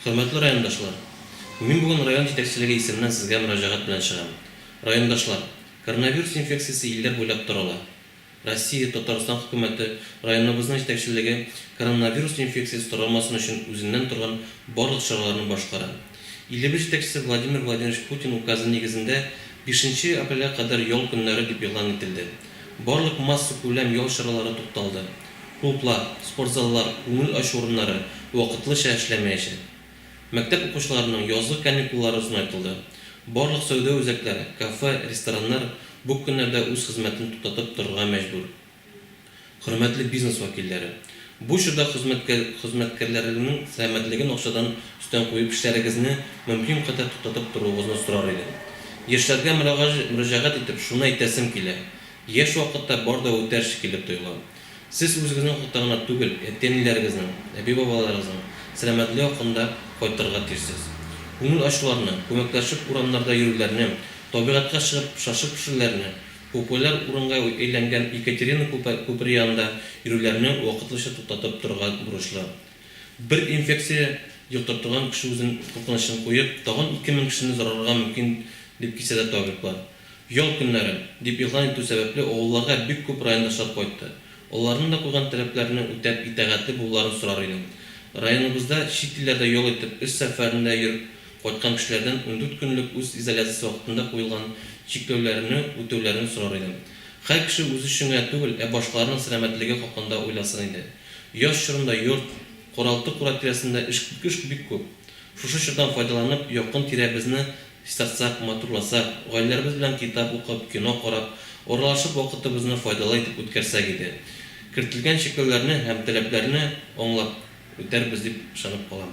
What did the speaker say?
Хөрмәтле райондашлар! Мин бүген район җитәкчелеге исеменнән сезгә мөрәҗәгать белән чыгам. Райондашлар, коронавирус инфекциясе илләр буйлап тарала. Россия, Татарстан хөкүмәте, районыбызның җитәкчелеге коронавирус инфекциясе таралмасын өчен үзеннән торган барлык чараларны башкара. Илебез җитәкчесе Владимир Владимирович Путин указы нигезендә бишенче апрельгә кадәр ял көннәре дип игълан ителде. Барлык массакүләм ял чаралары тукталды. Клублар, спортзаллар, күңел ачу урыннары вакытлыча эшләмәячәк. Мәктәп укучыларының язгы каникуллары озынайтылды. Барлык сәүдә үзәкләре, кафе, рестораннар бу көннәрдә үз хезмәтен туктатып торырга мәҗбүр. Хөрмәтле бизнес вәкилләре! Бу чорда хезмәткәрләрегезнең сәламәтлеген акчадан өстен куеп эшләрегезне мөмкин кадәр туктатып торуыгызны сорар идем. Яшьләргә мөрәҗәгать итеп шуны әйтәсем килә, Яшь вакытта бар да үтәр шикелле тоела. Сез үзегезнең хакта гына түгел, әти-әниләрегезнең, әби-бабаларыгызның сәламәтлеге хакында кайтарырга тиешсез. Күңел ачуларны, күмәкләшеп урамнарда йөрүләрне, табигатькә чыгып шашлык пешерүләрне, популяр урынга әйләнгән Екатерина күпере янында йөрүләрне вакытлыча туктатып торырга бурычлы. Бер инфекция йоктыртылган кеше үзен куркынычын куеп, тагын ике мең кешене зарарларга мөмкин дип кисәтә табиблар. Ял көннәре, дип игълан итү сәбәпле авылларга бик күп райондашлар кайтты. Аларның да куйган таләпләрне үтәп итәгатьле булуларын сорар идем. Районыбызда чит илләрдә ял итеп, эш сәфәрендә йөреп кайткан кешеләрдән ундүрт көнлек үз изоляциясе вакытында куелган чикләүләрне үтәүләрен сорар идем. Хәр кеше үзе өчен генә түгел, ә башкаларның сәламәтлеге хакында уйласын иде. Яз чорында йорт, каралты-кура тирәсендә эш эш бик күп. Шушы чордан файдаланып, якын-тирәбезне Чистартсак, матурласак, гаиләләребез белән китап укып, кино карап, аралашып вакытыбызны файдалы итеп үткәрсәк иде. Кертелгән чикләүләрне һәм таләпләрне аңлап үтәрбез дип ышанып калам.